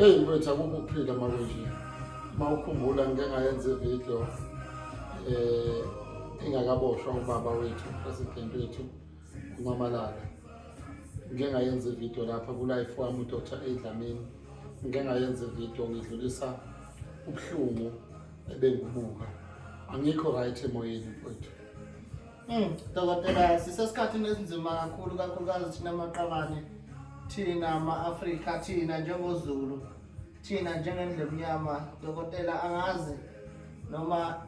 Eyi mfethu akukho ukuphila uma kunje uma ukhumbula ngike ngayenza ividiyo um eh, ingakaboshwa ubaba wethu president wethu umamalala ngike ngayenza ividiyo lapha kulife wami udr edlamini ngike ngayenza ividiyo ngidlulisa ubuhlungu ebengibuka angikho right emoyeni mfethu Mm, dokotela sisesikhathini esinzima kakhulu kakhulukazi thina maqabane thina ma-afrika thina njengozulu thina njengendlemnyama dokotela angazi noma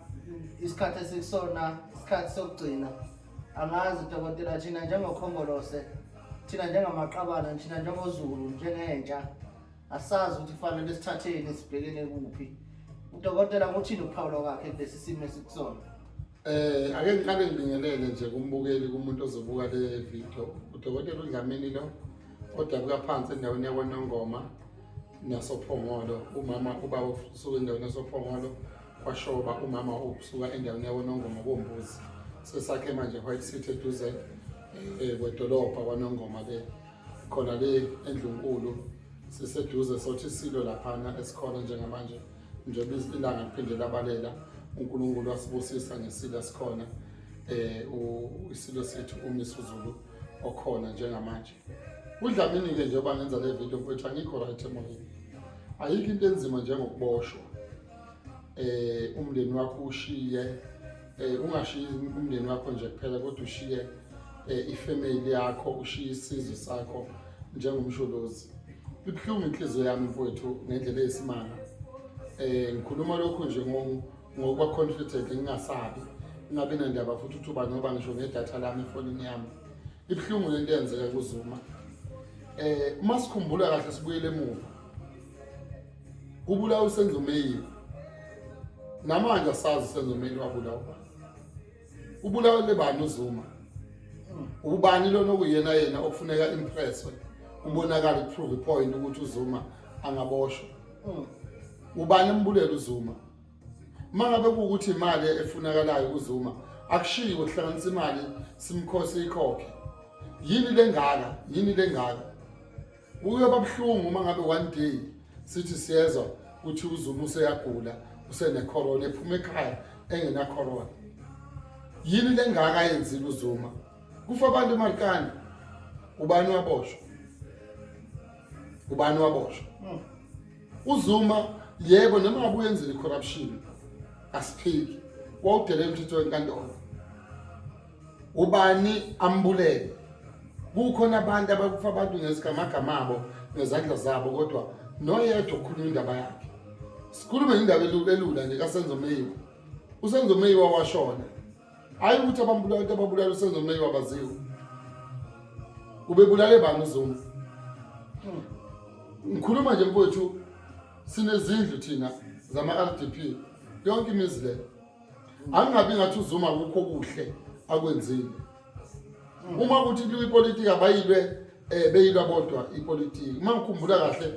isikhathi esikusona isikhathi sokugcina angazi dokotela thina njengokhongolose thina njengamaqabana thina njengozulu njengentsha asazi ukuthi kufanele sithatheni sibhekene kuphi udokotela kuthini ukuphawula kwakhe kulesi simo esikusona Eh ake ngiqale ngibingelele nje kumbukeli kumuntu ozobuka le video. Udokotela uDlamini lo odabuka phansi endaweni yakwaNongoma nasoPhongolo. Umama uba usuka endaweni yasoPhongolo kwashoba umama usuka endaweni yakwaNongoma kombuzi. Sesakhe manje White City eduze eh kwedolopha kwaNongoma ke khona le endlunkulu siseduze sothi silo laphana esikhona njengamanje njengoba ilanga liphinde labalela uNkulunkulu wasibusisa ngesilo sikhona eh isilo sethu uMisuzulu okhona njengamanje udlamini ke njengoba ngenza le video mfethu angikho right emoyeni ayikho into enzima njengokuboshwa eh umndeni wakho ushiye um ungashiyi umndeni wakho nje kuphela kodwa ushiye um ifemeli yakho ushiye isizwe sakho njengomsholozi ibuhlungu inhliziyo yami mfowethu ngendlela eyisimanga um ngikhuluma lokhu nje ngokuba confident ngingasabi ingabi nandaba futhi ukuthi uba ngoba ngisho ngedatha lami efonini yami ibuhlungu lento eyenzeka kuzuma um uma sikhumbula kahle sibuyele emuva kubulawa usenzo meyili namanje asazi usenzo meyili wabulawa ubulawa lebani uzuma ubani lona okuyena yena okufuneka impresswe ubonakala prove point ukuthi uzuma angaboshwa hmm. ubani embulela uzuma mangabe ukuthi imali efunakalayo uzuma akushiwo kuhlanganisa imali simkhosi ikhokhe yini lengaka yini lengaka kuyoba buhlungu uma ngabe one day sithi siyezwa ukuthi uzulu useyagula usenecorona ephuma ekhaya engenacorona yini lengaka yenzile uzuma kufa abantu emarikani ubani waboshwa ubani waboshwa hmm. uzuma yebo noma ngabe uyenzile icorruption asiphiki wawudele emthethweni kantona ubani ambulele kukhona abantu abakufa abantu ngezigamagama abo nezandla zabo kodwa noyedwa okhuluma indaba yakhe sikhulume indaba elula nje kasenzo meyiwa usenzo meyiwa washona hayi ukuthi abambulala into ababulala usenzo meyiwa baziwe ubebulale bani uzuma ngikhuluma nje mfowethu sinezindlu thina zama-r d p yonke imizi leyo angingabi ngathi uzuma kukho kuhle akwenzile uma ukuthi liwe ipolitiki abayilwe um beyilwa bodwa ipolitiki uma ngikhumbula kahle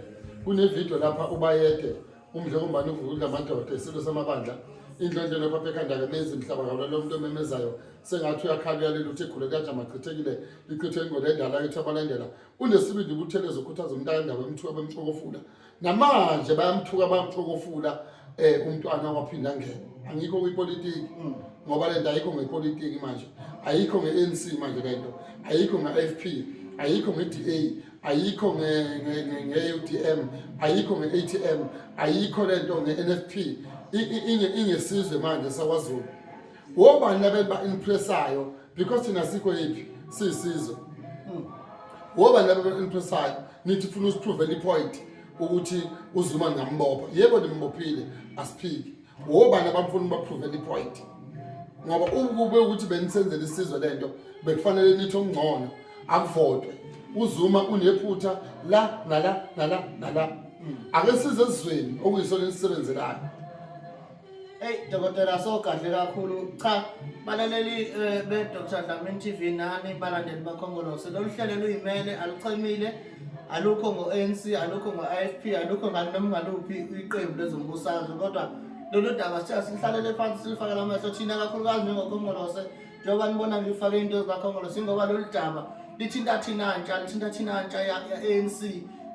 kunevidiyo lapha ubayede umdle kumbani uvuka udla amadoda isilo samabandla indlondlelo phapha ekhandake nezinhlaba kabula lo muntu omemezayo sengathi uyakhala uyalile uthi igule kuyajama chithekile lichithwe ingwele endala ethu abalandela unesibindi ubutheleza ukhuthaza umntaka endaba emthiwa bemxokofula namanje bayamthuka bayamthokofula eh umntwana waphinda ngene angikho kwipolitiki mm. ngoba lento ayikho ngepolitiki manje ayikho ngeNC manje lento ayikho ngeFP ayikho ngeDA ayikho ngeUTM ayikho ngeATM ayikho lento ngeNFP inge ingesizwe manje sakwaZulu wobani abeba impressayo because thina sikho yiphi siyisizwe hmm. wobani abeba impressayo nithi funa usiprove any point ukuthi uzuma ngambopha yebo nimbophile asiphiki wobani abamfuna ubaprove any point ngoba ukube ukuthi benisenzele isizwe lento bekufanele nithi ongcono akuvotwe uzuma unephutha la nala nala nala hmm. ake size ezweni okuyisona elisebenzelayo Hey dokotela so kahle kakhulu cha balaleli eh, be Dr Dlamini TV nani balandeli bakhongolose lolu hlelo luyimele aluchemile alukho ngo-ANC alukho ngo-IFP alukho ngani noma ngaluphi iqembu lezombusazwe kodwa lolu daba sithe silihlalele phansi silifakele amehlo thina kakhulukazi njengokhongolose njengoba nibona ngifake into zikakhongolose ingoba lolu daba lithinta thina ntsha lithinta thina ntsha ya-ANC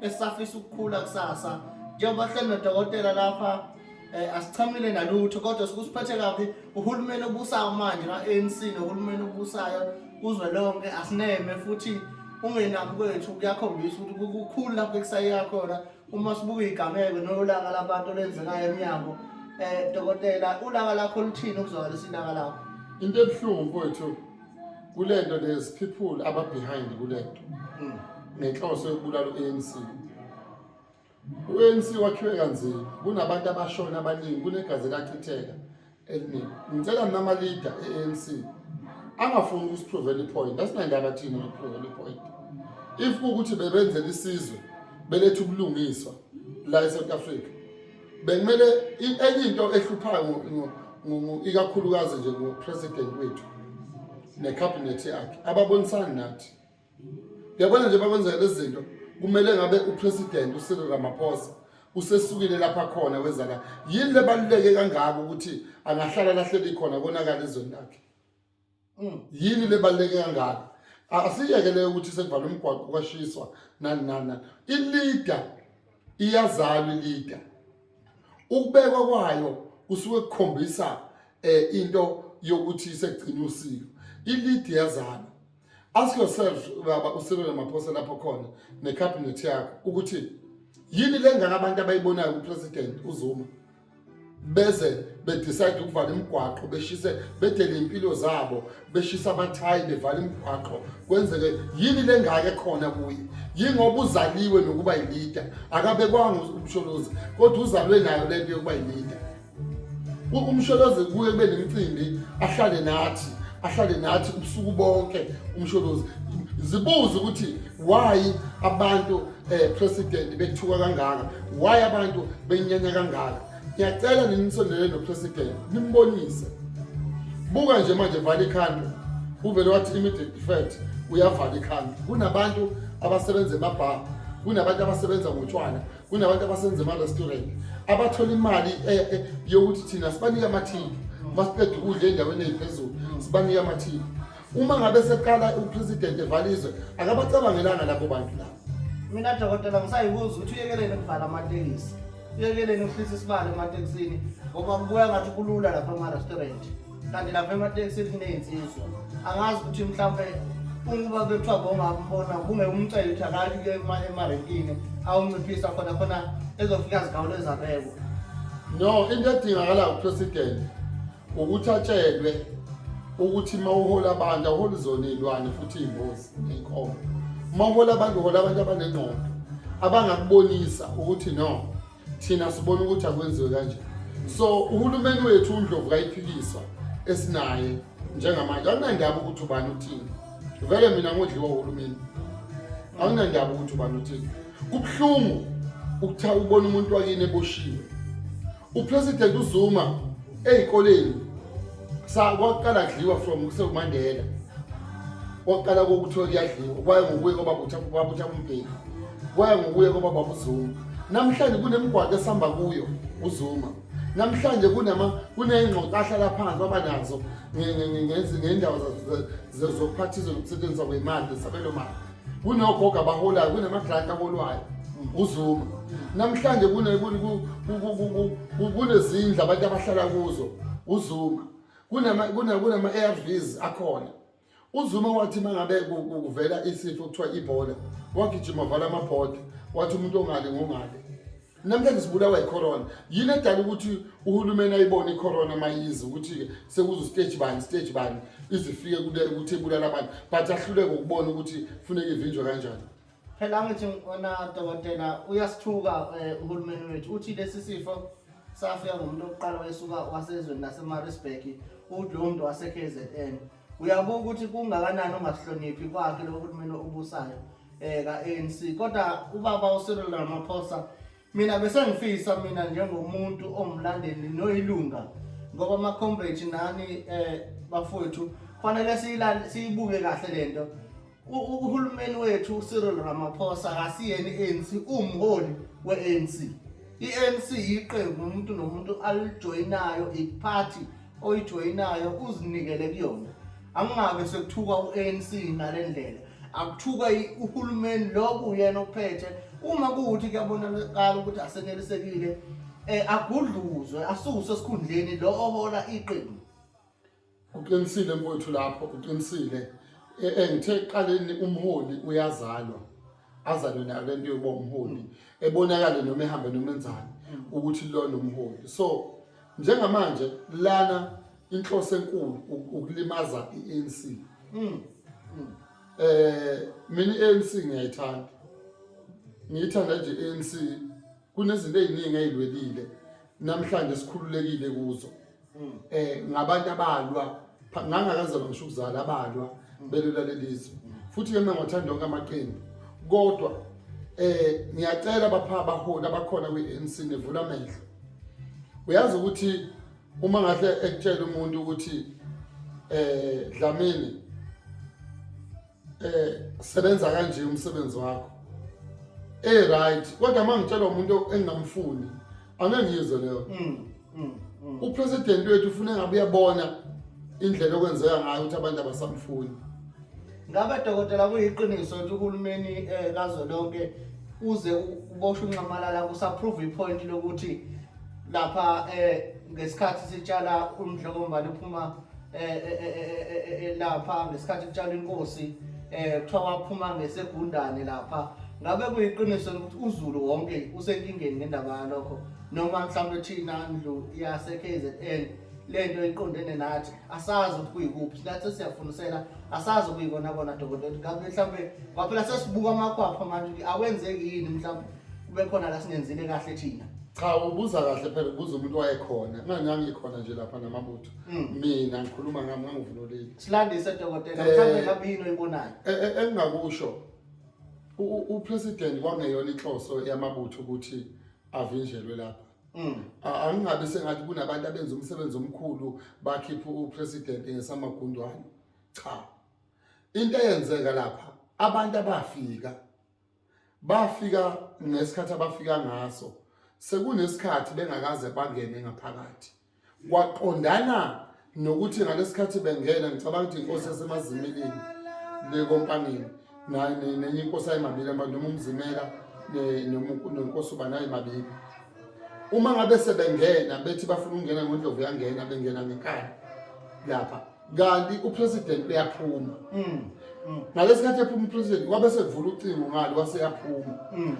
esisafisa ukukhula kusasa njengoba hleli nodokotela lapha eh, asichamile nalutho kodwa sikusiphethe kabi uhulumeni obusayo manje ka-anc nohulumeni obusayo kuzwe lonke asineme futhi ungenami kwethu kuyakhombisa ukuthi kukhulu lapho ekusayeka khona uma sibuka igameko nolaka labantu olenzekayo emnyango um dokotela ulaka lakho luthini ukuzwakalisa ilaka lakho into ebuhlungu kwethu kule nto there's people ababehind kule nto mm. ngenhloso yokubulala u-anc U-ANC wakhiwe kanzima, kunabantu abashona abaningi, kunegazi elachitheka eliningi. Ngicela nama leader e-ANC angafuni ukusipruvela ipoint, asinandaba thina nokupruvela ipoint. If kuwukuthi bebenzela isizwe beletha ubulungiswa la eSouth Africa, bekumele enye into ehluphayo ikakhulukazi nje ngo-president wethu nekhabhinethi yakhe ababonisani nathi Yabona nje bakwenzeka lezi zinto kumele ngabe upresident uCyril Ramaphosa usesukile lapha khona wezala yini lebaluleke kangaka ukuthi angahlala lahleli khona konakala izweni lakhe mm. yini lebaluleke kangaka asiyeke leyo ukuthi sekuvala umgwaqo kwashiswa nani nani nani ileader iyazalwa ileader ukubekwa kwayo kusuke kukhombisa eh into yokuthi sekugcina usiko ileader yazalwa Ask yourself baba uSirilo Ramaphosa lapho khona necabinet yakho ukuthi yini lengaka abantu abayibonayo kupresident uZuma beze bedecide ukuvala imigwaqo beshise bedele impilo zabo beshisa abathayi bevala imigwaqo kwenzeke yini lengake khona kuye yingoba uzaliwe nokuba yilida akabekwanga umsholozi kodwa uzalwe nayo lento yokuba yilida umsholozi kuye kube nemicimbi ahlale nathi ahlale nathi ubusuku bonke umsholozi zibuze ukuthi why abantu eh president bethuka kangaka why abantu benyanya kangaka ngiyacela ninisondele no president nimbonise buka nje manje vale ikhanda uvele wathi immediate effect uyavala ikhanda kunabantu abasebenza emabhanga kunabantu abasebenza ngotshwala kunabantu abasenza ama-restaurant abathola imali eh, eh, yokuthi thina sibanike amathini uma siqeda ukudla endaweni eyiphezulu sibanike amathini uma ngabe seqala upresident evalizwe akabacabangelanga lapho bantu labo mina dokotela ngisayibuza ukuthi uyekelele kuvala amatekisi uyekelele ukuhlisa isibalo ematekisini ngoba kubuya ngathi kulula lapha ama-restaurant kanti lapha ematekisini kuney'nsizwa angazi ukuthi mhlawumpe ukuba bekuthiwa bongambona kunge umcele ukuthi akathi ke emarenkini awunciphisa khona khona ezofika zigawulo ezabekwa no into edingakala upresident ukuthi atshelwe ukuthi uma uhola abantu awuholi zona iy'lwane futhi iy'mbozi ney'nkomo uma uhola abantu uhola abantu abanengqondo abangakubonisa ukuthi no thina sibona ukuthi akwenziwe kanje so uhulumeni wethu undlovu kayiphikiswa esinaye njengamanje akunandaba ukuthi ubani uthini vele mina ngodliwa uhulumeni akunandaba ukuthi ubani uthini kubuhlungu ukutha ubona umuntu wakini eboshiwe upresident uzuma ezikoleni sa kwaqala kudliwa from kusekumandela kwaqala kokuthiwa kuyadliwa kwaye ngokuye kwaba kutha kwaba kutha umbheki kwaye ngokuye kwaba baba uzuma namhlanje kunemgwaqo esihamba kuyo uzuma namhlanje kunama kuneyingxoxo ahlala phansi baba nazo ngendawo zokuphathizwa nokusetshenziswa kwemali nesabelo mali kunogogo abaholayo kunamagranti aholwayo uzuma namhlanje kunezindlu abantu abahlala kuzo uzuma kunama-arvs akhona uzuma wathi uma ngabe kuvela isifo kuthiwa ibhola wagijima vala amabhoda wathi umuntu ongale ngongale namhlanje sibulawa yicorona yini edala ukuthi uhulumeni ayibone icorona mayizi ukuthi-ke sekuze ustage bani stage bani izifike ukuthi ebulala abantu but ahluleke ukubona ukuthi funeke ivinjwe kanjani phela ngithi wona dokotela uyasithuka um uhulumeni wethu uthi lesi sifo safika ngomuntu okuqala wayesuka wasezweni lasemarisburg udlomuntu wase-k z n uyabuka ukuthi kungakanani ongasihloniphi kwakhe lokho ukuthi mina ubusayo eh ka-ANC kodwa ubaba uSirilo Ramaphosa mina besengifisa mina njengomuntu omlandeli noyilunga ngoba ama comrade nani eh bafowethu kufanele siyibuke kahle lento uhulumeni wethu uCyril Ramaphosa akasiyena i-ANC umholi we-ANC i-ANC yiqembu umuntu nomuntu alijoyinayo iparty oyijoyinayo uzinikele kuyona angingabe sekuthukwa u-ANC ngale ndlela akuthukwa uhulumeni loku yena ophethe uma kuwuthi kuyabonakala ukuthi asenelisekile um agudluzwe asuswe esikhundleni lo ohola iqembu Uqinisile mfowethu lapho uqinisile E- e, ngithe ekuqaleni umholi uyazalwa azalwe nayo lento yokuba umholi ebonakale noma ehambe noma enzani ukuthi lona umholi so njengamanje lana inhloso enkulu u- ukulimaza i-ANC eh mina i-ANC ngiyayithanda ngiyithanda nje i-ANC kunezinto eziningi ezilwelile namhlanje sikhululekile kuzo hmm. eh ngabantu abalwa ngangakazalwa ngisho ukuzala abalwa hmm. belula lelizwe hmm. futhi ke mina ngiwathanda onke amaqembu kodwa eh ngiyacela bapha abaholi abakhona kwi-ANC nevula amehlo uyazi ukuthi uma ngahle ekutshela umuntu ukuthi eh Dlamini eh sebenza kanje umsebenzi wakho eh right kodwa mangitshelwa umuntu engingamfuni angeke ngiyizwe leyo Mm, mm, mm. upresident wethu ufuna ngabe uyabona indlela okwenzeka ngayo ukuthi abantu abasamfuni ngabe dokotela kuyiqiniso ukuthi uhulumeni eh, kazwelonke uze u- uboshe unxamalala kusaprove ipoint lokuthi lapha eh, ngesikhathi sitshala umdlokombali uphuma eh, eh, eh, lapha ngesikhathi kutshalwa inkosi eh kuthiwa waphuma ngesegundane lapha ngabe kuyiqiniso ukuthi uzulu wonke usenkingeni ngendaba yalokho noma mhlawumbe thina ndlu yase KZN lento iqondene nathi asazi ukuthi kuyikuphi nathi siyafundisela asazi kuyikona kona dokotela ngabe mhlawumbe kwaphela sesibuka amakhwapha manje awenzeki yini mhlawumbe kube khona la singenzile kahle thina cha ubuza kahle phela kuze umuntu wayekhona kunganyangikhona nje lapha namabutho Mm. mina ngikhuluma ngami ngangivunulile silandise dokotela Eh. mhlawumbe ngabe yini oyibonayo E- e- engingakusho u- u- upresident kwangeyona inhloso yamabutho ukuthi avinjelwe lapha Mm. A- angingabi sengathi kunabantu abenza umsebenzi omkhulu bakhipha upresident ngesamagundwane cha into eyenzeka lapha abantu abafika bafika ngesikhathi abafika ngaso sekunesikhathi bengakaze bangene ngaphakathi kwaqondana nokuthi ngalesikhathi bengena ngicabanga ukuthi inkosi yasemazimilini le kompanini naye nenye inkosi ayimabili abantu noma umzimela nenkosi uba naye mabili uma ngabe sebengena bethi bafuna ukungena ngodlovu yangena bengena ngenkani lapha kanti upresident uyaphuma mm. mm. nalesikhathi ephuma upresident wabe sevula ucingo ngalo waseyaphuma mm.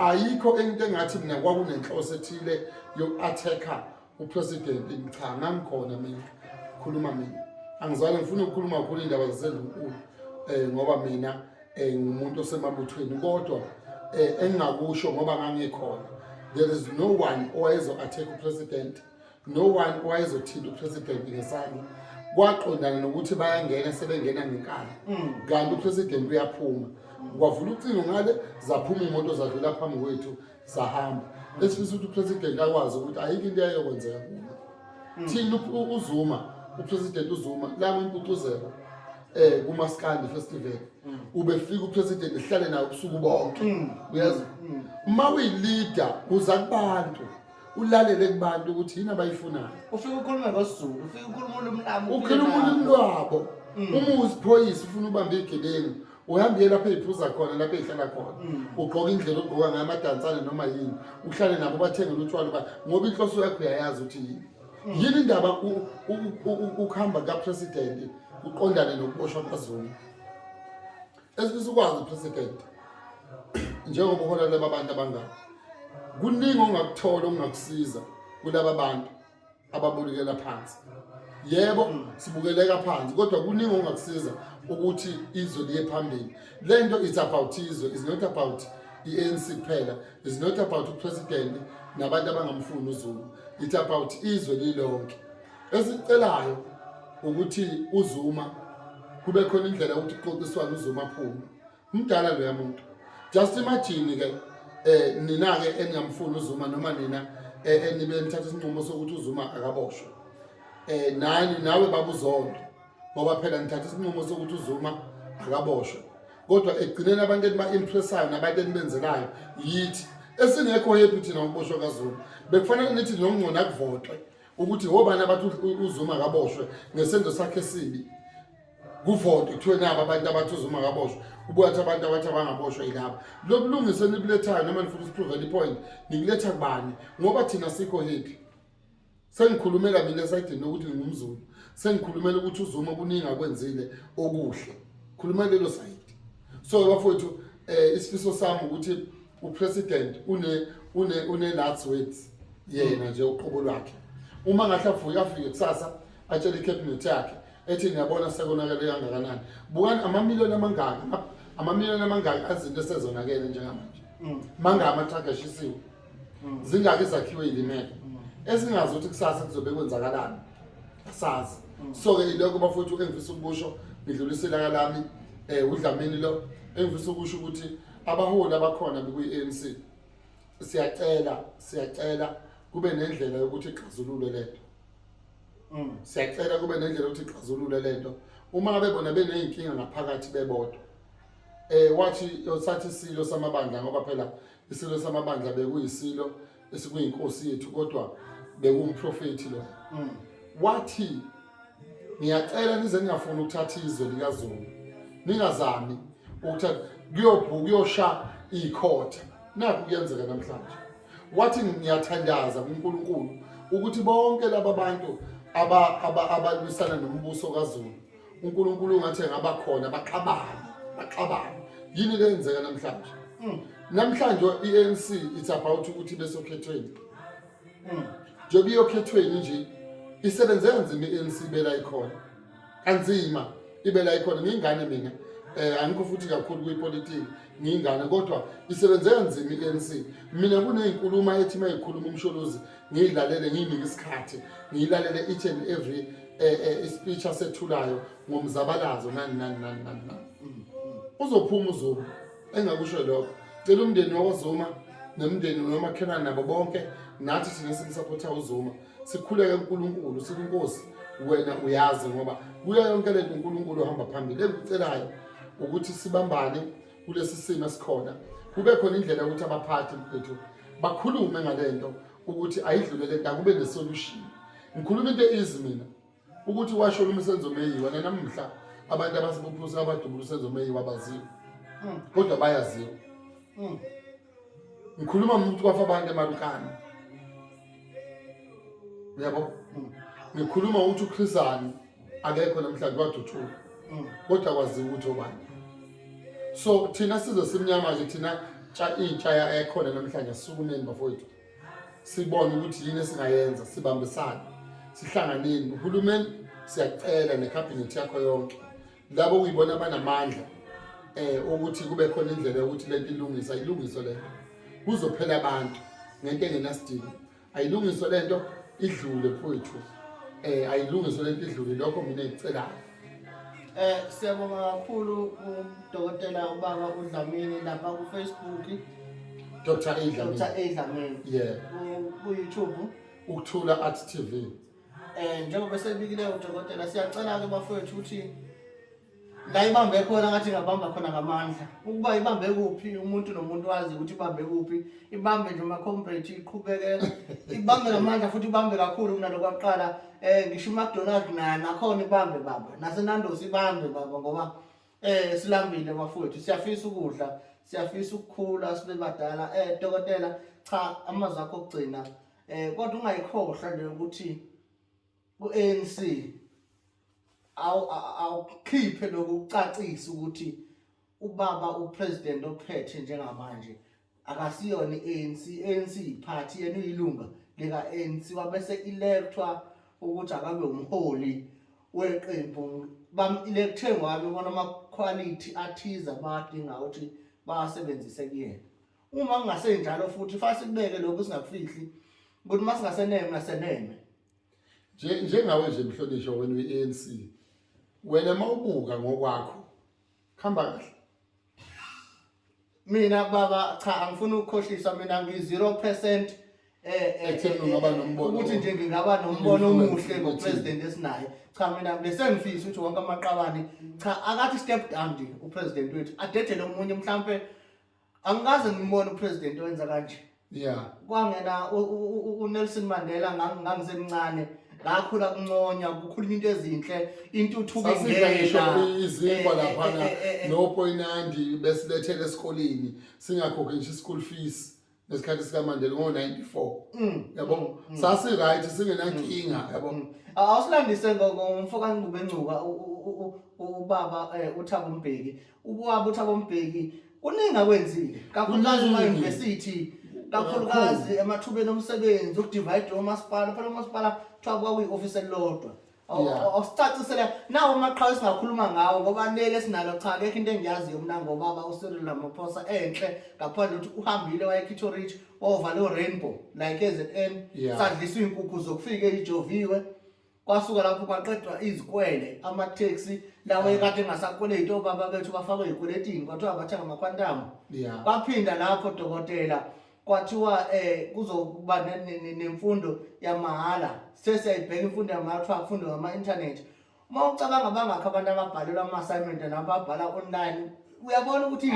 ayikho into engathi mina kwakunenhloso ethile yoku-attacker upresident cha ngangikhona mina khuluma mina angizwale ngifuna ukukhuluma kakhulu iy'ndaba zasendlunkulu um eh, ngoba mina um eh, ngumuntu osemabuthweni kodwa um engingakusho ngoba ngangikhona there is no one owayezo-attack upresident no one owayezothinta upresident ngesami kwaqondana nokuthi bayangena sebengena ngenkani mm. kanti upresident uyaphuma kwavula ucingo ngale zaphuma imoto zadlula phambi kwethu zahamba esifisa ukuthi upresident akwazi ukuthi ayikho into yayokwenzeka kuyo mm. thina uzuma upresident uzuma lama impucuzeko eh kumaskandi festival mm. ubefika upresident ehlale naye ubusuku bonke uyazi uma uyileader uza kubantu ulalele kubantu ukuthi yini abayifunayo ufike ukhulume ngosizulu ufike ukhuluma ulimi lami ukhuluma ulimi lwabo mm. uma uziphoyisa ufuna ubambe igebengu uhambe uye lapho eyiphuza khona lapho eyihlala khona mm. ugqoke indlela ogqoka ngayo amadansane noma yini uhlale nabo bathengele utshwala uba ngoba inhloso yakho uyayazi ukuthi yini mm. yini indaba ukuhamba kapresidenti uqondane nokuboshwa kwazulu esifisa ukwazi president njengoba uhola laba bantu abangaka kuningi ongakuthola ongakusiza kulaba bantu ababulekela phansi yebo sibukeleka phansi kodwa kuningi ongakusiza ukuthi izwe liye phambili lento it's about izwe is not about i-ANC kuphela is not about upresident nabantu abangamfuni uZulu it's about izwe lilonke esicelayo ukuthi uzuma kube khona indlela ukuthi kuxoxiswana uzuma aphume umdala loya muntu just imagine ke eh nina ke eningamfuni uzuma noma nina eh, enibe nithatha isinqumo sokuthi uzuma akaboshwe eh nani nawe babuzondo ngoba phela nithatha isinqumo sokuthi uzuma akaboshwe kodwa egcineni abantu eniba impressayo nabantu enibenzelayo yithi esingekho yethu thina uboshwa kazulu bekufanele nithi nongcona kuvotwe ukuthi hobani abathi uzuma kaboshwe ngesenzo sakhe sibi kuvotwe kuthiwe nabo abantu abathi uzuma kaboshwe ubuyathi abantu abathi abangaboshwa yilaba lokulungisa enikulethayo noma nifuna usipruvela ipoint nikuletha kubani ngoba thina sikho hepi sengikhulumela mina esayidini lokuthi ngingumzulu sengikhulumela ukuthi uzuma kuningi akwenzile okuhle khulumela lelo sayidi so bafowethu um eh, isifiso sami ukuthi upresident une-last words yena nje uqobo lwakhe uma ngathi avuke afike kusasa atshele icabinet yakhe ethi niyabona sekonakele kangakanani bukani amamiliyoni amangaki amamiliyoni amangaki azinto esezonakele njengamanje mm. mangaki amathraga ashisiwe mm. zingaki zakhiwe yilimeko mm. esingazi ukuthi kusasa kuzobe kwenzakalani asazi mm. so-ke ilokho bafowethu engifisa ukusho ngidlulisela kalami um eh, udlamini lo engifisa ukusho ukuthi abaholi abakhona bekuyi-a n c siyacela siyacela kube nendlela yokuthi ixazulule le nto siyacela kube nendlela yokuthi ixazulule le nto uma bebona beney'nkinga ngaphakathi bebodwa um wathi sathi isilo samabandla ngoba phela isilo samabandla bekuyisilo esikuyinkosi yethu kodwa bekuwumprofethi lo mm. wathi ngiyacela nize ningafuni ukuthatha izwe likazulu ningazami ukuthatha kuyobhuka kuyosha ikhotha nakho kuyenzeka namhlanje wathi ngiyathandaza kuNkulunkulu ukuthi bonke laba bantu abalwisana nombuso kaZulu uNkulunkulu ungathi ngaba khona baxabane baxabane yini le yenzeka namhlanje hmm. namhlanje i-ANC it's about ukuthi besokhethweni hmm. njengoba iyokhethweni nje isebenze kanzima i-ANC ibela ikhona kanzima ibela ikhona ngiyingane mina eh angikho futhi kakhulu kwipolitiki ngiyingane kodwa isebenze kanzima i-ANC mina kunezinkulumo ethi mayikhuluma umsholozi ngiyilalele ngiyinike isikhathi ngiyilalele each and every eh, eh, ispeech asethulayo ngomzabalazo nani nani nani nani nani mm, mm. uzophuma uzuma engakusho lokho cela umndeni wakwazuma nemndeni nomakhelwane nabo bonke nathi thina simsapotha uzuma sikhuleke unkulunkulu sikunkosi wena uyazi ngoba kuyo yonke lento unkulunkulu ohamba phambili engicelayo ukuthi sibambane kulesi simo esikhona kube khona indlela yokuthi abaphathi mfethu bakhulume ngale nto ukuthi ayidlule le nto akube nesolution ngikhuluma into easy mina ukuthi washo lo msenzo meyiwa nanamhla abantu abasibuphusa abadubula usenzo meyiwa abaziwa hmm. kodwa bayaziwa hmm. ngikhuluma ngomuntu kwafa abantu emarukana uyabo ngikhuluma ukuthi ukhrisani akekho namhlanje waduthuka mm. kodwa kwaziwa ukuthi obani so thina sizwe simnyama nje thina intsha ekhona namhlanje sisukumeni bafowethu sibone ukuthi yini esingayenza sibambisane sihlanganeni uhulumeni siyacela nekhabhinethi yakho yonke labo kuyibona abanamandla eh ukuthi kube khona indlela yokuthi lento ilungisa ilungiswe lento kuzophela abantu ngento engenasidingo ayilungiswe lento idlule mfowethu eh ayilungiswe lento idlule lokho mina ngicelayo eh siyabonga kakhulu udokotela ubaba uDlamini lapha ku Facebook Dr. Adlamini Dr. Adlamini yeah ku YouTube ukuthula art TV Eh njengoba sebikile udokotela siyacela ke bafowethu ukuthi la ibambe khona ngathi ngabamba khona ngamandla. Ukuba ibambe kuphi umuntu nomuntu wazi ukuthi ibambe kuphi. Ibambe nje uma comrade iqhubeke ibambe ngamandla futhi ibambe kakhulu kunalokho kwaqala. Eh ngisho uMcDonald naye nakhona ibambe baba. NaseNandos ibambe baba ngoba eh silambile bafowethu siyafisa ukudla siyafisa ukukhula sibe badala eh dokotela cha amazwi akho okugcina Eh kodwa ungayikhohlwa nje ukuthi uANC awu awukhiphe lokucacisa ukuthi ubaba upresident ophethe njengamanje akasiyona iANC ANC party yena uyilunga lika ANC wabese electwa ukuthi akabe umholi weqembu bam electhe ngwabe bona ama quality athiza badinga ukuthi basebenzise kuyena Uma kungasenjalo futhi fase sikubeke lokho singakufihli ukuthi uma singaseneme naseneme. Nje njengawe nje mhlonishwa wena uyi-ANC wena mawubuka ngokwakho khamba kahle. Mina baba cha angifuni ukukhohlisa mina ngi 0% eh ekutheni eh, ungaba eh, nombono ukuthi nje ngingaba nombono omuhle ngopresident esinaye cha mina besengifisa ukuthi wonke amaqabane cha akathi step down nje upresident wethu adedele omunye mhlambe angikaze ngimbone upresident owenza kanje yeah kwangena uNelson Mandela ngangisemncane ngakhula kunconywa kukhuluma into ezinhle intuthuko ingeniizikwa eh, laphana eh, eh, nopoinandi besilethele esikoleni singakhokhi ngisho i-school fees ngesikhathi sikamandela ngo-94 mm, yabo mm, mm. sasi-right singenankinga yabo awusilandise ngomfo kanqubencuka ubaba um uthabo mbheki Ukwaba uthi abombheki kuningi akwenzile kakhulukazi Kuningi. ema-university kakhulukazi emathubeni omsebenzi ukudivide omasipala phela omasipala kuthiwa kwakuyi-ofisi elilodwa Aw- Yeah. aw- awusicacisele nawo amaqhawe esingakhuluma ngawo ngoba leli esinalo cha kekho into engiyaziyo mna ngobaba ucyril ramaphosa enhle ngaphandle ukuthi uhambile wayekhithorit wayovala orainbow like ezn Yeah. sadliswa iy'nkukhu zokufika eyijoviwe kwasuka lapho kwaqedwa izikwele amatheksi lawo ekade engasakweleti obaba bethu bafakwe ey'kweletini kwathiwa bathenga amakhwantamu Yeah. kwaphinda lapho dokotela kwathiwa um kuzokuba ne- ne- ne- nemfundo yamahhala sesiyayibheka imfundo yamahhala kuthiwa kufundwe ngama-inthanethi uma ucabanga bangakho abantu ababhalelwa ama-assignment nababhala online uyabona ukuthi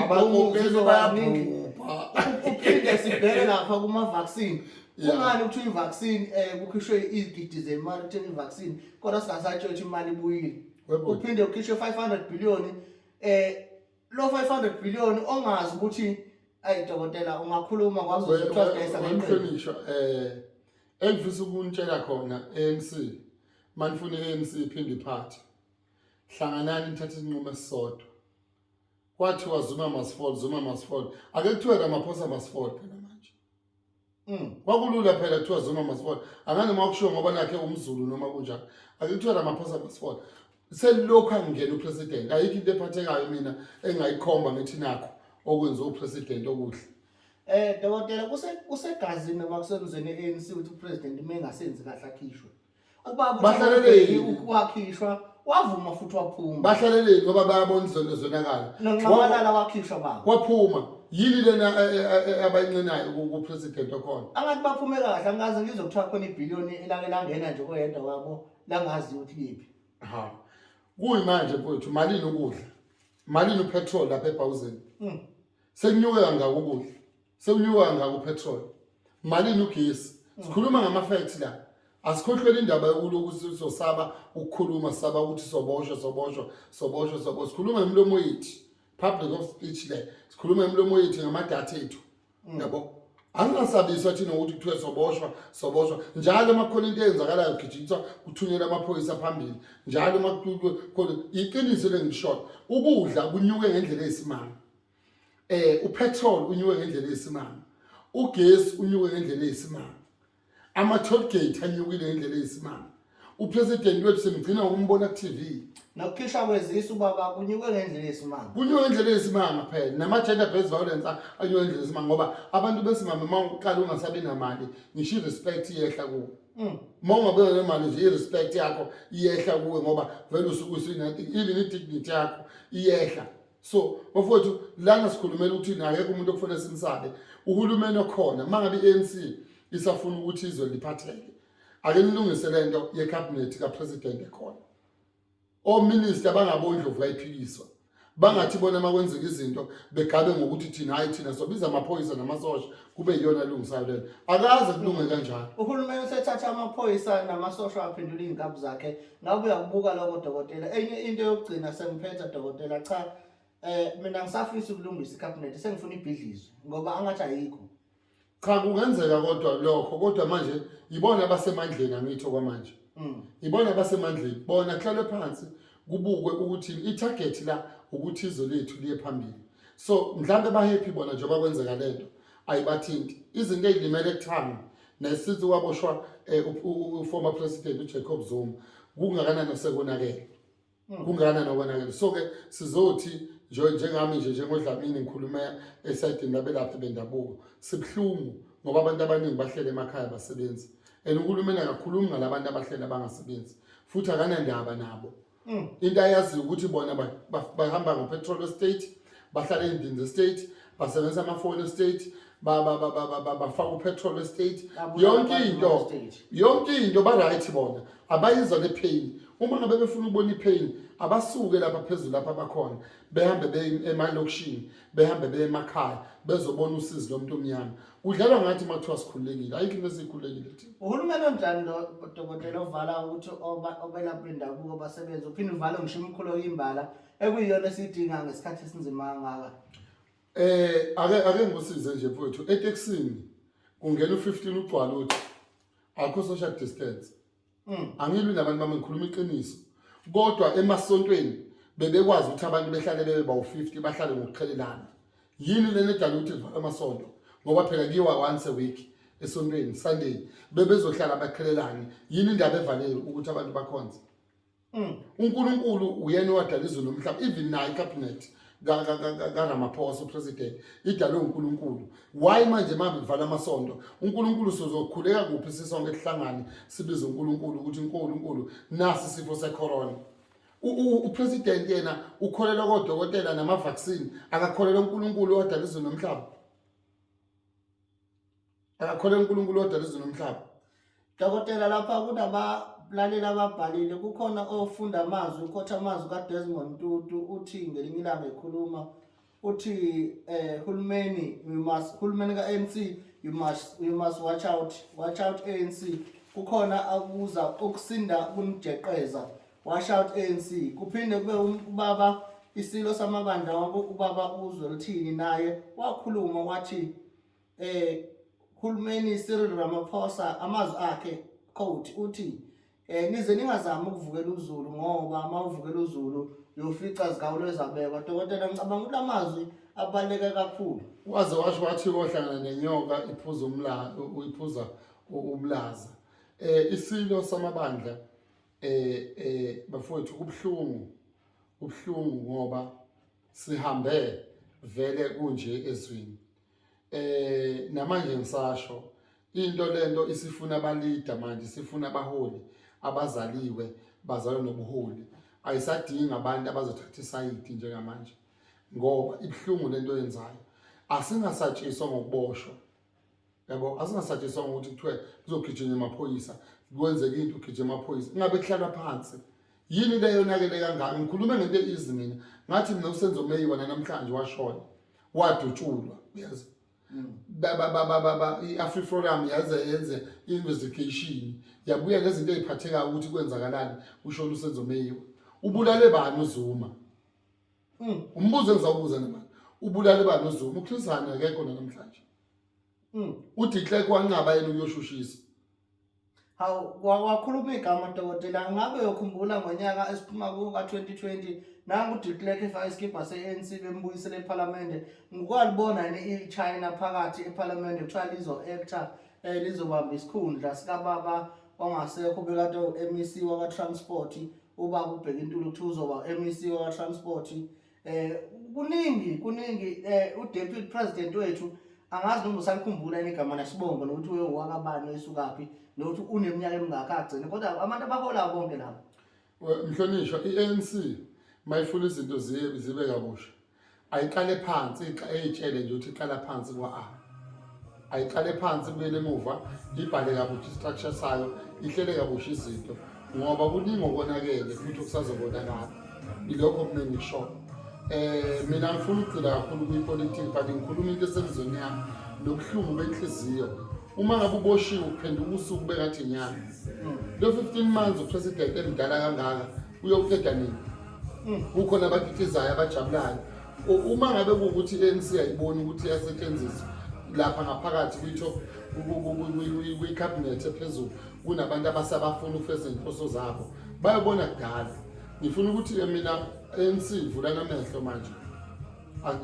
uphinde sibheke lapha kuma-vaccine kungani ukuthi i-vaccine um kukhishwe izigidi zemali kutheni i-vaccine kodwa singasatshela ukuthi imali ibuyile uphinde ukhishwe five hundred billion um lo five hundred billion ongazi ukuthi ayi dokotela ungakhuluma kwazohlonishwa um eh, engifisa ukunitshela khona anc manifuna i-anc iphinde iphathe hlanganani nithathe isinqumo esisodwa kwathiwa zuma masifol zuma masifol ake kuthiwe kamaphosa masifol phela manje mm kwakulula phela kuthiwa zuma masifol anganoma ukushiwo ngoba nakhe umzulu noma kunjani ake kuthiwe kamaphosa masifol selokhu angena upresident ayikho into ephathekayo mina engayikhomba ngithi nakho okwenza upresident okuhle eh dokotela kuse kusegazini bakuseluzeni ANC ukuthi upresident uma engasenzi kahle akhishwe ubaba bahlaleleni ukuwakhishwa wavuma futhi waphuma bahlaleleni ngoba bayabona izono zonakala nonxamalala wakhishwa baba waphuma yini lena eh, eh, eh, abayincenayo ku president okhona angathi baphume kahle angazi ngizwe kuthiwa khona ibillion elake langena nje koyedwa wabo langazi ukuthi liphi ha kuyimanje mfowethu malini ukudla malini upetrol lapha ebhawuzeni hmm. sekunyuke kangaka ukudla sekunyuka ngako petrol malini ugesi sikhuluma ngama facts la asikhohlwele indaba yokuloku sizosaba ukukhuluma saba ukuthi soboshwa soboshwa soboshwa sobo sikhuluma ngemilomo yethu public of speech le sikhuluma ngemilomo yethu ngamadatha ethu mm. yabo angingasabiswa thina ukuthi kuthiwe soboshwa soboshwa njalo uma kukhona into eyenzakalayo kugijingiswa kuthunyelwa amaphoyisa phambili njalo uma kukhona iqiniso lengishoyo ukudla kunyuke ngendlela eyisimanga eh upetrol unyuke ngendlela eyisimanga ugesi unyuke ngendlela eyisimanga ama toll gate anyukile ngendlela eyisimanga upresident wethu semgcina ukumbona ku TV nokukhishwa kwezisu baba kunyuke ngendlela eyisimanga kunyuke ngendlela eyisimanga phela nama gender based violence anyuke ngendlela eyisimanga ngoba abantu besimame uma uqala ungasabi namali ngisho respect yehla kuwo Mm. uma ungabeka le mali nje i-respect yakho iyehla kuwe ngoba vele usuke usinati even i-dignity yakho iyehla so bafowethu lana sikhulumela ukuthi akekho umuntu okufanele simsabe uhulumeni okhona uma ngabe i-anc isafuna ukuthi izwe liphatheke ake nilungise le nto yekhabhinethi kapresident ekhona ominista bangabondlovu kayiphikiswa bangathi bona uma kwenzeka izinto begabe ngokuthi thina hhayi thina sobiza amaphoyisa namasosha kube yiyona elungisayo lena akaze kulunge kanjalo uhulumeni usethatha amaphoyisa namasosha aphendula iy'nkabi zakhe ngabe uyakubuka loko dokotela enye into yokugcina sengiphetha dokotela cha um mina ngisafisa ukulungisa ikhabhinethi sengifuna ibhidlizwe ngoba angathi ayikho cha kungenzeka kodwa lokho kodwa manje yibona abasemandleni angithi okwamanje mm. yibona abasemandleni bona kuhlalwe phansi kubukwe ukuthi ithagethi la ukuthi izwe lethu liye phambili so mhlawumbe bahappy bona njengoba kwenzeka le nto ayibathinti izinto ey'limele ekuthanga nesithi waboshwa eh, uformer president ujacob zuma kungakanani osekonakele hmm. kungakanani nokonakele so-ke sizothi njengami nje njengodlamini ngikhulume esayidini labelaphi bendabuko sibuhlungu ngoba abantu abaningi bahlele emakhaya basebenzi and uhulumeni akakhulumi ngalabantu abahleli abangasebenzi futhi akanandaba nabo mm. into ayaziyo ukuthi bona bahamba ngopetrol estate bahlala endinzi estate basebenzisa amafoni estate bafaka upetrol estate yonke into yonke into ba-right bona abayizwa nepain uma ngabe befuna ukubona ipain abasuke lapha phezulu lapha bakhona behambe emalokishini behambe beye emakhaya bezobona usizi lomuntu omnyama kudlalwa ngathi uma kuthiwa sikhululekile ayikho into esiyikhululekile thina uhulumeni onjani lo dokotela ovala ukuthi oba- obelaphi bendabuko basebenze uphinde uvale ngisho imikhulu oyimbala ekuyiyona esiyidinga ngesikhathi esinzima kangaka Eh ake ake ngikusize nje mfowethu eTexini kungena u15 ugcwala uthi akho social distance mm. angilwi nabantu bami ngikhuluma iqiniso kodwa emasontweni bebekwazi ukuthi abantu behlale bebe bawu-50 bahlale ngokuqhelelana yini lena edala ukuthi livala amasonto ngoba phela kuyiwa once a week esontweni sunday bebezohlala baqhelelane yini indaba evalele ukuthi abantu bakhonze Mm. uNkulunkulu uyena owadala izulu nomhlaba even nayo icabinet kaRamaphosa upresident idalwe uNkulunkulu why manje mabevala amasonto uNkulunkulu sozokhuleka kuphi sisonke sihlangane sibize uNkulunkulu ukuthi uNkulunkulu nasi sifo secorona upresident yena ukholelwa kodokotela namavaccine akakholelwa uNkulunkulu owadala izulu nomhlaba akakholwa uNkulunkulu odala izulu nomhlaba dokotela lapha kunabalaleli ababhalile kukhona ofunda amazwi ukhotha amazwi kaDesmond Tutu uthi ngelinye ilanga ekhuluma uthi eh hulumeni we must hulumeni kaNC you must you must watch out watch out ANC kukhona akuza ukusinda kunijeqeza watch out ANC kuphinde kube ubaba isilo samabandla wabo ubaba uzwe lithini naye wakhuluma wathi eh Hulumeni Cyril Ramaphosa amazwi akhe quote uthi eh nize ningazami ukuvukela uZulu ngoba uma uvukela uZulu uyofica zigawulo ezabekwa dokotela ngicabanga ukuthi amazwi abaluleke kakhulu waze washo wathi kohlangana nenyoka iphuza umlayo uyiphuza ubulaza eh isilo samabandla eh eh bafowethu kubhlungu kubhlungu ngoba sihambe vele kunje ezwini eh namanje ngisasho into lento isifuna abalida manje sifuna abaholi abazaliwe bazalwa nobuholi ayisadingi abantu abazothatha isayidi njengamanje ngoba ibuhlungu lento yenzayo asingasatshiswa ngokuboshwa yabo asingasatshiswa ngokuthi kuthiwe kuzogijima amaphoyisa kwenzeka into ugijima amaphoyisa ingabe kuhlalwa phansi yini le yonakele kangaka ngikhulume ngento easy mina ngathi mina usenzo meyi wona namhlanje washona wadutshulwa uyazi i-afriforum yaze yenze i-investigation yabuya ngezinto eziphathekayo ukuthi kwenzakalani ushona usenzo meyiwa ubulale bani uzuma hmm, umbuzo engizawubuza nemali ubulale bani uzuma ukhlisana akekho nanamhlanje Mm. Uthi Clerk wanqaba yena uyoshushisa. Hawu wa- wakhuluma igama dokotela ngabe uyokhumbula ngonyaka esiphuma kuwo ka-2020 nangu de Klerk efaka isikibha se-ANC bembuyisele ephalamende ngikwalibona yini i-China phakathi ephalamende kuthiwa lizo-actor um lizobamba isikhundla sikababa ongasekho bekade u-MEC wakwa-transport ubaba ubheka intuli kuthiwa uzoba u-MEC wakwa-transport eh kuningi kuningi eh uDeputy President wethu angazi noma usalikhumbula igama nesibongo nokuthi uye wakabani esukaphi nokuthi uneminyaka emingaka agcine kodwa abantu abahola bonke labo mhlonishwa i-ANC mayifuna izinto zibe zibe kabusha ayiqale phansi eyitshele nje ukuthi iqala phansi kwa-a ayiqale phansi ibuyele emuva ibhale kabusha istructure sayo ihlele kabusha izinto ngoba kuningi okonakele futhi okusazobonakala ilokho kumele ngishoyo um mina ngifuna ukugcila kakhulu kwipolitiki but ngikhuluma into esemzweni yami nobuhlungu benhliziyo uma ngabe uboshiwe uphenduka usuku bekathi nyanga lo 15 months upresident emdala kangaka uyoqeda nini kukhona abakitizayo abajabulayo uma ngabe kuwukuthi i-anc ayiboni ukuthi iyasetshenziswa lapha ngaphakathi kwi-top kwikhabhinethi ephezulu kunabantu abasabafuna ukufeza iy'nhloso zabo bayobona kudala ngifuna ukuthi-ke mina anc vulani amehlo manje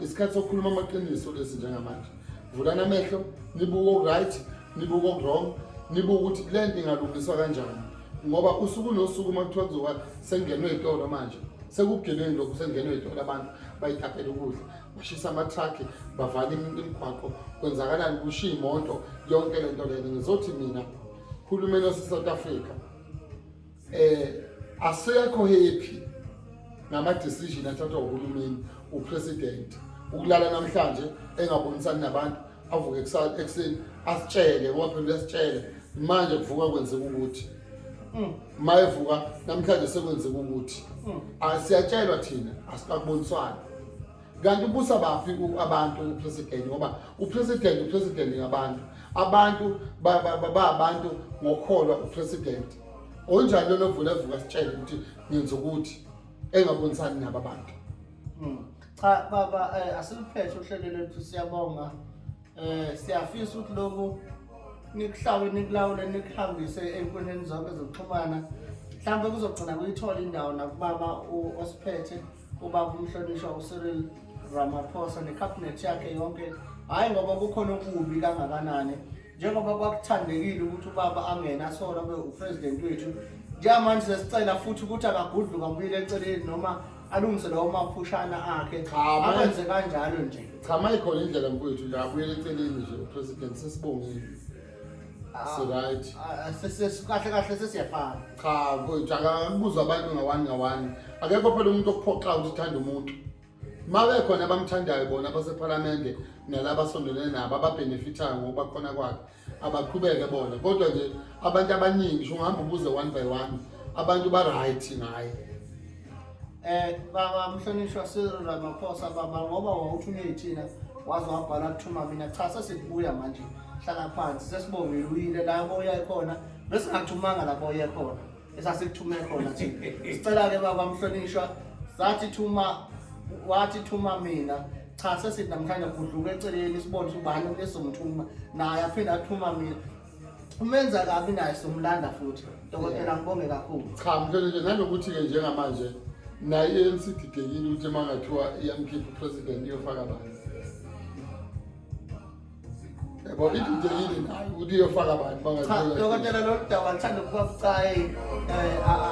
isikhathi sokukhuluma amaqiniso lesi njengamanje vulani amehlo nibuke oku-right nibuke okuwrong nibuke ukuthi le nto ingalungiswa kanjani ngoba usuku nosuku uma kuthiwa kuzoba sengenwe iy'tolo manje sekubugebengu lokhu sengenwe iy'tolo abantu bayithaphela ukudla bashisa amathrakhi bavala imigwaqo kwenzakalani kushiya imoto yonke le nto lena ngizothi mina hulumeni wasesouth africa eh asekho happy ngama decision athathwa uhulumeni upresident ukulala namhlanje engabonisani nabantu avuke ekuseni asitshele ngoba phela uyasitshela manje kuvuka kwenzeka ukuthi hmm. mayevuka namhlanje sekwenzeka ukuthi hmm. asiyatshelwa thina asikakuboniswani kanti ubusa baphi abantu upresident ngoba upresident upresident ngabantu abantu babantu ngokholwa upresident onjani lona ovula evuka sitshele ukuthi ngenza ukuthi engabonisani nabo abantu hmm. cha baba eh, asiliphethe uhlelo lethu siyabonga eh siyafisa ukuthi lokhu nikuhlawe nikulawule nikuhambise enkundleni zonke zokuxhumana mhlawumbe kuzogcina kuyithola indawo nakubaba osiphethe ubaba umhlonishwa uCyril Ramaphosa nekhabhinethi yakhe yonke hhayi ngoba kukhona okubi kangakanani njengoba kwakuthandekile ukuthi ubaba angene asole abe upresident wethu njengamanje sesicela futhi ukuthi akagudluka abuyile eceleni noma alungise lawo maphushana akhe akwenze kanjalo nje cha mayikhona indlela mfowethu nje abuyele eceleni nje upresident sesibongile siright kahle kahle sesiyafana cha mfowethu akakubuza abantu ngawani ngawani akekho phela umuntu okuphoxayo ukuthi uthanda umuntu ma bekhona abamthandayo bona basephalamende nalaba asondelene nabo ababhenefithayo ngokuba khona kwakhe abaqhubeke bona kodwa nje abantu abaningi sho ngihamba ubuze one by one abantu ba-right ngaye Eh baba mhlonishwa Cyril Ramaphosa baba ngoba wawuthunywe yithina waze wabhala kuthuma mina cha sesibuya manje hlala phansi sesibongile uyile la boya khona bese ngathumanga la boya khona esasikuthuma khona thina sicela ke baba mhlonishwa sathi thuma wathi thuma mina cha sesithi namhlanje kudluka eceleni sibone ubani lesomthuma naye aphinde athuma mina umenza kabi naye somlanda futhi dokotela ngibonge kakhulu cha mfethu nje nanokuthi-ke njengamanje naye i-anc ididekile ukuthi uma ngathiwa iyamkhipha upresident iyofaka bani yabo ididekile nayo ukuthi iyofaka bani dokotela lolu daba lithanda ukuba bucayi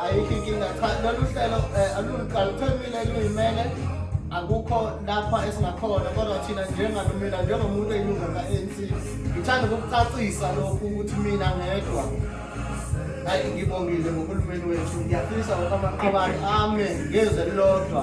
ayikho inkinga cha lolu hlelo aluqaluqhemile luyimele akukho lapha esingakhona kodwa thina njengalo mina njengomuntu eyilunga ka-anc ngithanda ukukucacisa lokhu ukuthi mina ngedwa hayi ngibongile ngohulumeni wethu ngiyafisa ukuthi amaqabane ame ngezwe lilodwa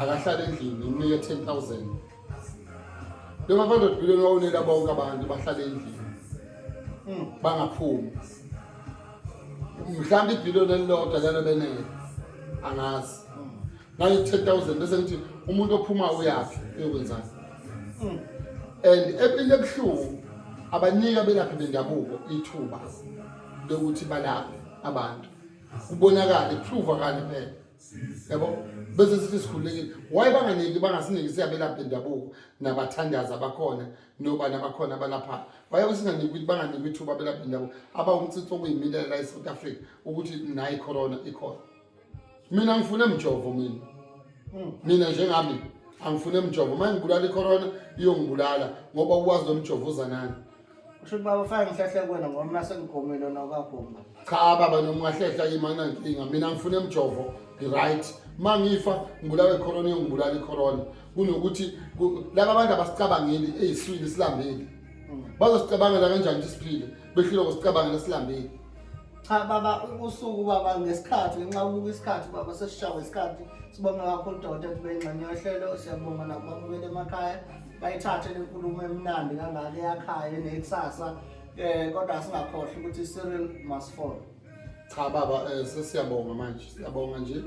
akahlale endlini ngimnike 10000 lo ma 500 billion wawunela bonke abantu bahlale endlini hmm. bangaphumi mhlawumbe ibhillion elilodwa lelo benele angazi ngayo 10000 bese ngithi umuntu ophuma uyaphi uyokwenzani hmm. and empilweni ebuhlungu abanika belaphi bendabuko ithuba lokuthi balaphe abantu kubonakala iprove kanye phela yabo bese sithi sikhululekile why banganiki bangasiniki siyabelapha indabuko nabathandazi abakhona noba nabakhona abalaphayo why singaniki ukuthi banganiki ithuba abelapha indabuko abawumtsitsi okuyimilela la e-south africa ukuthi nayi corona ikhona mina ngifune mjovo mina hmm. mina njengami angifune mjovo uma ngibulala icorona iyongibulala ngoba ukwazi lo mjovo uzanani Kusho ukuthi baba fake ngihlehla kuwena ngoba mina sengigomile nokagomba. Cha baba noma ungahlehla kimi anginankinga. Mina ngifuna emjovo right. Uma ngifa ngibulawe icorona ngibulala icorona. Kunokuthi ku- laba abantu abasicabangeli eyiswini isilambeli. Bazosicabangela kanjani ukuthi siphile? Behlile ukusicabangela isilambeli. cha baba usuku baba ngesikhathi ngenxa yokubuka isikhathi baba sesishawe isikhathi sibonga kakhulu udokotela kube ingxenye yohlelo siyabonga nakubabukela emakhaya bayithathe le nkulumo emnandi kangaka eyakhaya nekusasa um eh, kodwa singakhohlwa ukuthi i-serial must fall cha baba um sesiyabonga manje siyabonga nje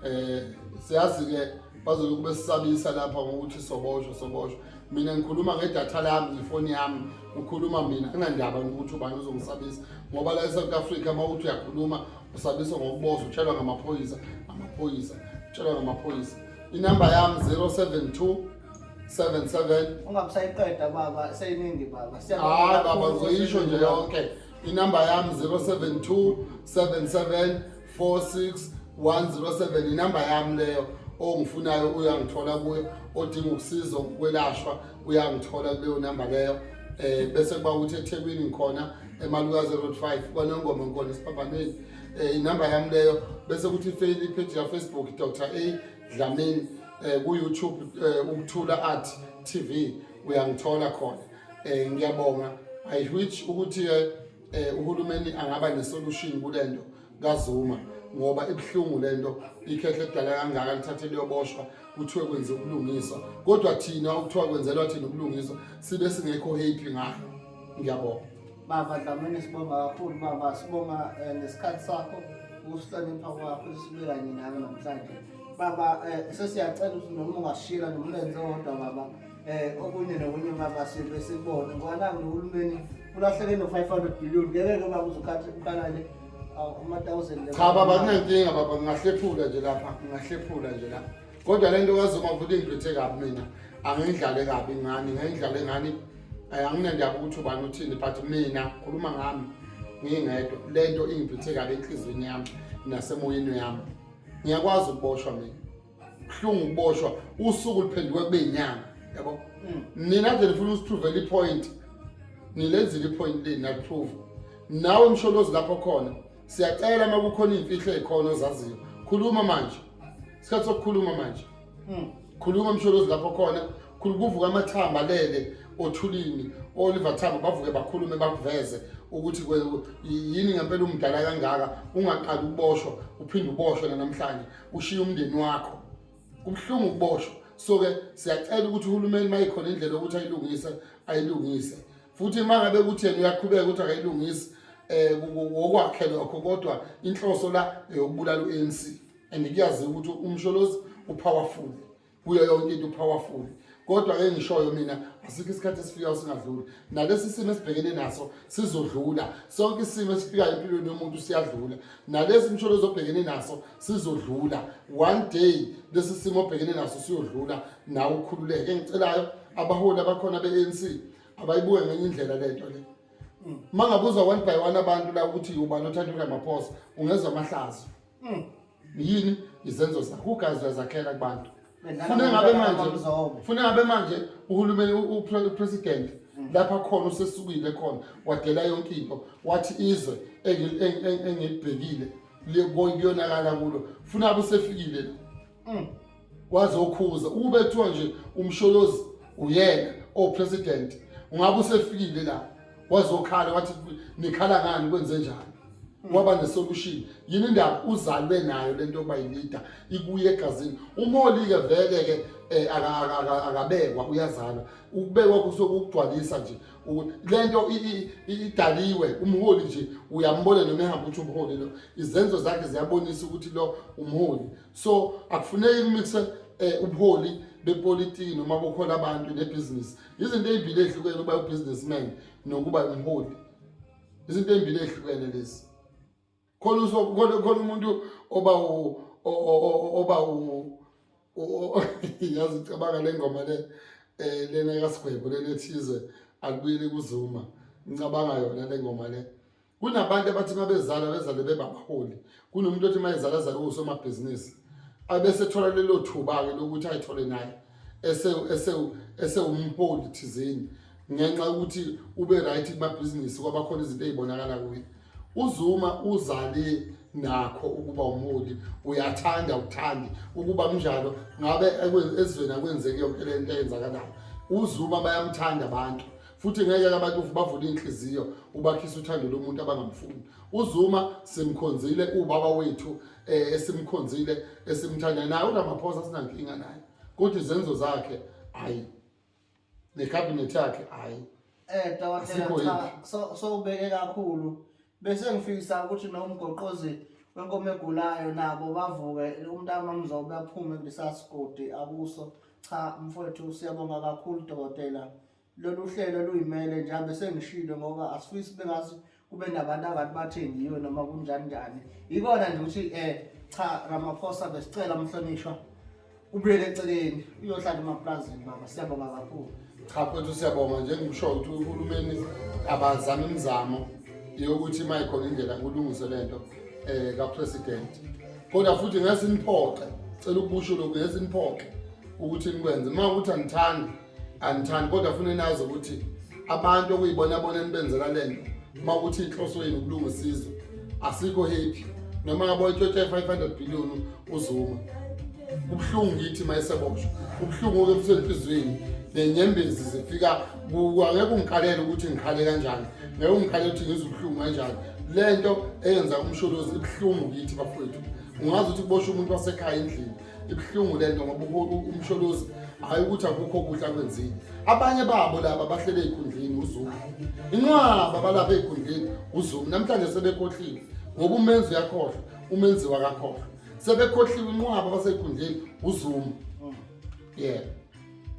eh siyazi ke bazobe kube sisabisa lapha ngokuthi soboshwa soboshwa mina ngikhuluma ngedatha lami ngifoni yami ukhuluma mina angandaba ukuthi ubani uzongisabisa ngoba la eSouth Africa uma uthi uyakhuluma usabiswa ngokuboza utshelwa ngamaphoyisa amaphoyisa utshelwa ngamaphoyisa inamba yami 072 77 ungamsayiqeda baba seyiningi baba hayi baba ngizoyisho nje yonke inamba yami 072 77 46107 inamba yami leyo ongifunayo uyangithola kuyo odinga ukusizwa ukwelashwa uyangithola kuleyo namba leyo eh bese kuba ukuthi eThekwini ngikhona emaluka 05 kwanongoma ngikhona esiphambanweni eh inamba yami leyo bese kuthi ifeli page ya Facebook Dr A Dlamini eh ku YouTube eh, ukuthula art TV uyangithola khona eh ngiyabonga i which ukuthi eh, eh uhulumeni angaba nesolution kulento kaZuma ngoba ibuhlungu lento ikhehle edala kangaka lithathe liyoboshwa kuthiwe kwenze ubulungiswa kodwa thina ukuthiwa kwenzelwa thina ubulungiswa sibe singekho happy ngayo ngiyabonga baba dlamini sibonga kakhulu baba sibonga eh, nesikhathi sakho ukusihlonipha kwakho sibe kanye nawe namhlanje baba eh, sesiyacela ukuthi noma ungashila nomlenze wodwa baba Eh okunye nokunye mama sibe sibone ngoba nangu nohulumeni ulahleke no 500 billion ngeke ke baba uzokhathi uqalane ama 1000 Cha baba kunenkinga baba ngingahlephula nje lapha ngingahlephula nje lapha. Kodwa lento kazoma ukuthi ingiphethe kabi mina angindlale kabi ngani ngindlale ngani eh, anginendaba ukuthi ubani uthini but mina khuluma ngami ngingedwa lento ingiphethe kabi enhlizweni yami nasemoyeni yami. Ngiyakwazi ukuboshwa mina. buhlungu ukuboshwa usuku luphenduke kube inyanga yabo mm. nina nje nifuna usipruvele ipoint nilenzile ipoint leni naprove nawe msholozi lapho khona siyacela uma kukhona iy'mfihlo ey'khona ozaziyo khuluma manje isikhathi sokukhuluma manje mm. khuluma msholozi lapho khona kuvuka amathamba alele othulini oliver thamba bavuke bakhulume bakuveze ukuthi yini ngempela umdala kangaka ungaqali ukuboshwa uphinde uboshwe nanamhlanje ushiye umndeni wakho kubuhlungu ukuboshwa so ke siyacela ukuthi uhulumeni mayikhona indlela yokuthi ayilungise ayilungise futhi uma ngabe kuthi yena uyaqhubeka ukuthi akayilungisi um eh, wokwakhe lokho kodwa inhloso la eyokubulala u-anc and kuyaziwa ukuthi umsholozi upowerful kuyo yonke into powerful kodwa ke ngishoyo mina asikho isikhathi esifikayo singadluli nalesi simo esibhekene naso sizodlula sonke isimo esifikayo empilweni yomuntu siyadlula nalesi msholo ezobhekene naso sizodlula one day lesi simo obhekene naso siyodlula nawe ukhululeke engicelayo abaholi abakhona be-anc abayibuke ngenye indlela lento le uma ngabuza one by one abantu la ukuthi ubani othanda uramaphosa ungezwa amahlazo Mm. Yini izenzo zakho ugazi uyazakhela kubantu. Funa ngabe manje funa ngabe manje uhulumeni upresident mm. lapha khona usesukile khona wadela yonke into wathi izwe engilibhekile liyonakala kulo funa abusefikile mm. waze ukhuza ukube kuthiwa nje umsholozi uyena o president ungabe usefikile la wazokhala wathi nikhala ngani kwenze njani waba nesolution yini indaba uzalwe nayo lento yokuba yileader ikuye egazini umholi-ke vele-ke um akabekwa uyazalwa ukubekwa kusokugcwalisa nje le nto idaliwe umholi nje uyambona noma ehamba ukuthi umholi lo izenzo zakhe ziyabonisa ukuthi lo umholi so akufuneki kumixe um eh, ubuholi bepolitiki noma bokhona abantu nebhizinisi izinto ey'mbili ey'hlukene uba ubusinessman nokuba umholi izinto ey'mbili ey'hlukene lezi khona khona khona umuntu oba oba yazi cabanga le ngoma le eh lena kasigwebo lena ethize akubuyele kuzuma ngicabanga yona le ngoma le kunabantu abathi mabezala bezale bebabaholi kunomuntu othi mayezala zale usomabhizinisi abese thola lelo thuba ke lokuthi ayithole naye ese ese ese umholi thizeni ngenxa ukuthi ube right kuma business kwabakhona izinto ezibonakala kuye UZuma uzale nakho ukuba umholi uyathanda ukuthandi ukuba kunjalo ngabe ezweni akwenzeki yonke le nto eyenzakalayo uZuma bayamthanda abantu futhi ngeke abantu bavule inhliziyo ubakhisa uthando lomuntu abangamfuni uZuma simkhonzile ubaba wethu eh, esimkhonzile esimthanda naye uRamaphosa sinankinga naye kodwa izenzo zakhe hayi ne cabinet yakhe hayi eh dokotela cha so so ubeke kakhulu bese ngifisa ukuthi nomgoqozi wenkomo egulayo nabo bavuke umntama mzobe aphume kulisasigodi akuso cha mfowethu siyabonga kakhulu dokotela lolu hlelo luyimele njengoba sengishilo ngoba asifisi bengazi kube nabantu angathi bathengiwe noma kunjani njani yikona nje ukuthi um cha ramaphosa besicela mhlonishwa ubuyele eceleni uyohlala emapulazini baba siyabonga kakhulu cha mfethu siyabonga njengikusho ukuthi uhulumeni abazama imizamo yokuthi uma ikhona indlela kulungise le nto um kapresident kodwa futhi ngesiniphoxe cela ukubusho lokhu ngesiniphoxe ukuthi nikwenze uma ukuthi anithandi andithandi kodwa funa nazi ukuthi abantu okuyibona bona enibenzela lento uma ukuthi inhloso yenu ukulunga isizwe asikho happy noma ngabo itshothe 500 billion uzuma kubuhlungu ngithi mayesebosho kubuhlungu ke busenhlizweni nenyembezi zifika kwangeke ungikhalele ukuthi ngikhale kanjani ngeke ungikhalele ukuthi ngizwe ubuhlungu kanjani lento eyenza umsholozi ibuhlungu kithi bafowethu ungazi ukuthi kubosha umuntu wasekhaya endlini ibuhlungu le nto ngoba umsholozi hhayi ukuthi akukho kuhle akwenzile abanye babo laba bahlele ey'khundleni uzulu inqwaba balapha ey'khundleni uzulu namhlanje sebekhohliwe ngoba umenzi uyakhohlwa umenzi wakakhohlwa sebekhohliwe inqwaba basey'khundleni uzulu yeah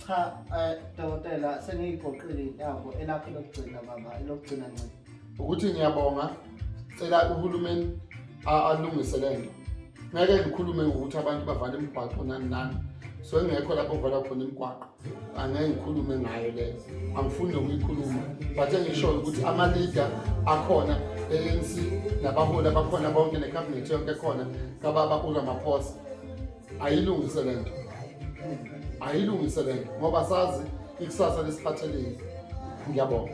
cha um dokotela sengiyigoqile intambo elakho lokugcina baba elokugcina ncini ukuthi ngiyabonga cela uhulumeni alungise le nto ngeke ngikhulume ngokuthi abantu bavale imigwaqo nani nani so engekho lapho kuvala khona imigwaqo angeke ngikhulume ngayo leyo angifuni nokuyikhuluma but engishoyo ukuthi ama-leader akhona e-anc nabaholi abakhona bonke nekhabhinethi yonke ekhona kababa uramaphosa ayilungise le nto ayilungise le nto ngoba sazi ikusasa lesiphathelile ngiyabonga